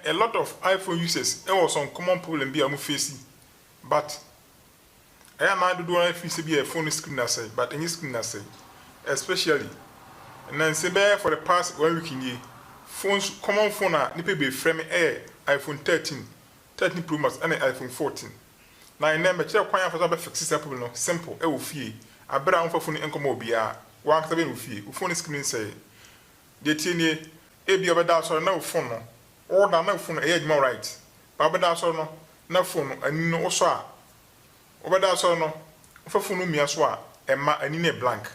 A lot of iPhone users wɔ some common problem bi a wɔn face but ɛyɛ a na dodoɔ no ara feel sɛ bi a phone no screen asɛe but ɛnyɛ screen asɛe especially nansa bɛyɛ for the past one week nie phones common phone a nipa bebree frɛ me ɛyɛ iPhone thirteen, thirteen pro max ɛne iPhone fourteen na ɛnɛ mɛkyerɛ kwan a wɔfa so abɛ fixe saa problem no simple ɛwɔ fie abere a wonfa phone nkɔma obiara wankasa bɛyɛ no wɔ fie wo phone screen sɛe Deɛ ɛteɛ nie, ebia wobɛda asɔre na wo phone no, woda na wo phone no ɛyɛ adwuma alright, but wobɛda asɔre no na phone no ani no wosɔ a, wobɛda asɔre no wofa phone no mia so a, ɛmma, ani no yɛ blank.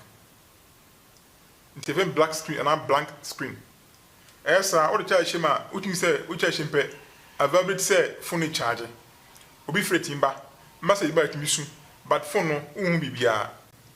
Nti yɛfrɛ no black screen anaa blank screen. Ɛyɛ saa a, wode charge hyɛ mu a, wotumi sɛ wo charge hyɛ mu pɛ, availability sɛ phone no recharge. Obi frɛ tumi ba, message ba a ɛtumi su, but phone no wonhu biribiara.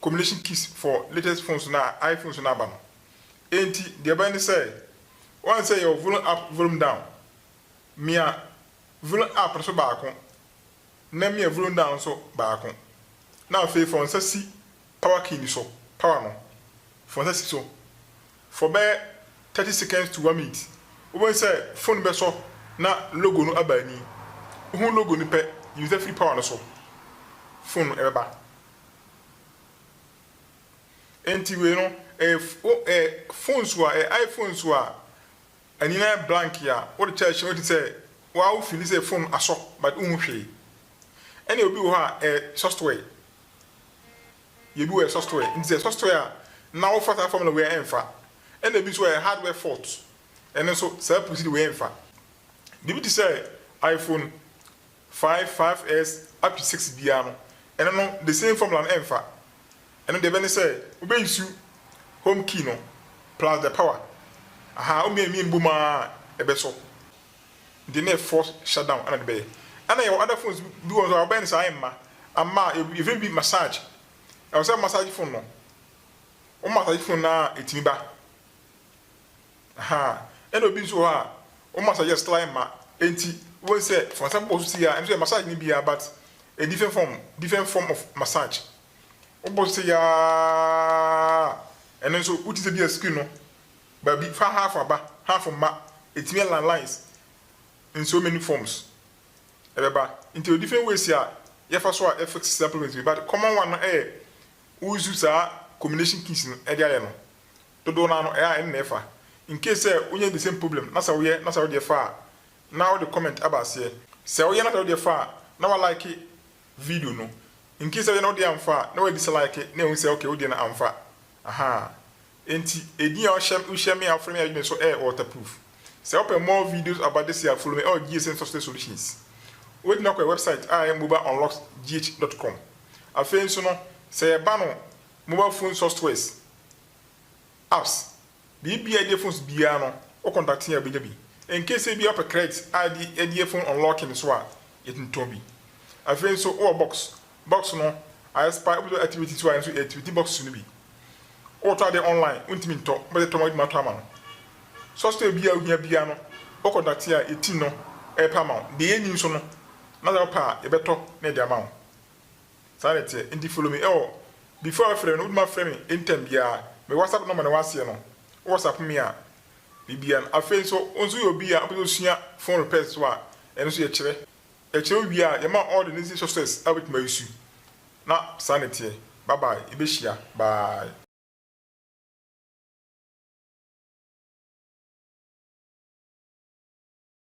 combination keys for latest phones no a iPhone so no aba no. Enti deɛ ɛbɛyɛ ne sɛ, woahu sɛ yɛwɔ volume up, volume down. Mia volume up no so baako, na mia volume down no so baako. Na afei fa wo nsa si power key no so, power no, fa wo nsa si so for bɛyɛ thirty seconds to one minute. Wobɛhu sɛ phone no bɛsɔ na logo no aba ani. Wohu logo no pɛ, yi wo nsa firi power no so, phone no bɛba. Enti wei no ɛyɛ ɛyɛ phone so a ɛyɛ iPhone so a ani no ayɛ blank a wode charge hyɛ mu te sɛ wo ara wo feeli sɛ phone no asɔ but wonhu hwee. Ɛna obi wɔ hɔ a ɛyɛ software yɛ bi wɔ hɔ a ɛyɛ software nti sɛ software a na wofa saa formula wei a ɛmfa. Ɛna ebi nso wɔ hɔ a ɛyɛ hardware fault ɛno nso saa pusi de wei ɛmfa. Biribi te sɛ iPhone Five five S up to six biara no ɛno no the same formula no ɛnfa ɛno deɛ ɛbɛne sɛ wobɛ nsu home key no plus the power ahaa wo mmienu mmienu bom aa ɛbɛsɔ nti na yɛ force shut down ɛna de bɛyɛ ɛna yɛwɔ other phones bi wɔ nso a wobɛyɛ no saa ɛmma amma a yɛfrɛ no bi massage ɛwɔ sɛ massage phone no wo massage phone no a ɛtumi ba Ahaa ɛna obi nso wɔ hɔ a wɔn massage yɛ sly ma ɛnti wobɛhu sɛ sɛ wɔsan bobɔ wo so sei a ɛno nso yɛ massage no bi ara but ɛyɛ different form different form of massage wobɔ so sei ara ɛno nso wote sɛ bi a skin no baabi fa half aba half mma ɛtumi align lines in so many forms ɛbɛba nti ɛyɛ different ways a yɛfa so a ɛfix saa problems bi but common one no ɛyɛ wosu saa combination kiss no ɛde ayɛ no Dodow no ara no ɛyɛ a ɛno na ɛfa. Incase sɛ wonya the same problem na sɛ woyɛ na sɛ wodeɛ fa a na wode comment aba aseɛ. Sɛ woyɛ na sɛ wodeɛ fa a na wa like video no. Incase sɛ woyɛ na wodeɛ amfa a na wa dislike na yɛhu sɛ okay wodeɛ no amfa. Ahaa. Enti edin a wohyɛ wohyɛ me a wofrɛ me a yɛdwene so ɛyɛ waterproof. Sɛ wopɛ more videos about this a follow me ɛwɔ GSN Software Solutions. Wobɛtumi akɔ yɛ website a ɛyɛ mobileunlocksgh.com. Afei nso no sɛ yɛba no mobile phone softwares Apps, Biribi a ɛde phones biara no, wo contact a wobɛnya bi. Incase sɛ ebia wopɛ credit a ɛde yɛ phone unlocking nso a, yɛtumi tɔn bi. Afei nso wowɔ box, box no ayɛ spy, wobɛtumi ayɛ activity nso a ɛno nso yɛactivate boxes no bi. Wotɔ ade online, wontumi ntɔ, wobɛyɛ tɔma adwuma atɔ ama no. Software biara a wohia biara no, wo contact a yɛ team no repɛ ama wo. Deɛ yɛnni nso no, na sɛ wopɛ a yɛbɛtɔ na yɛde ama wo. Saa na ɛteɛ nti follow me ɛwɔ before wafrɛ no wotuma frɛ me anytime biaa me whatsapp number na waseɛ no wo whatsapp me a bibia no afei nso wo nso yɛ obi a wopɛ sɛ osua phone repairs nso a ɛno nso yɛkyerɛ yɛkyerɛ wo wie a yɛma wo all the necessary softwares a wobɛtumi a use na saa na ɛteɛ bye bye yɛbɛhyia bye.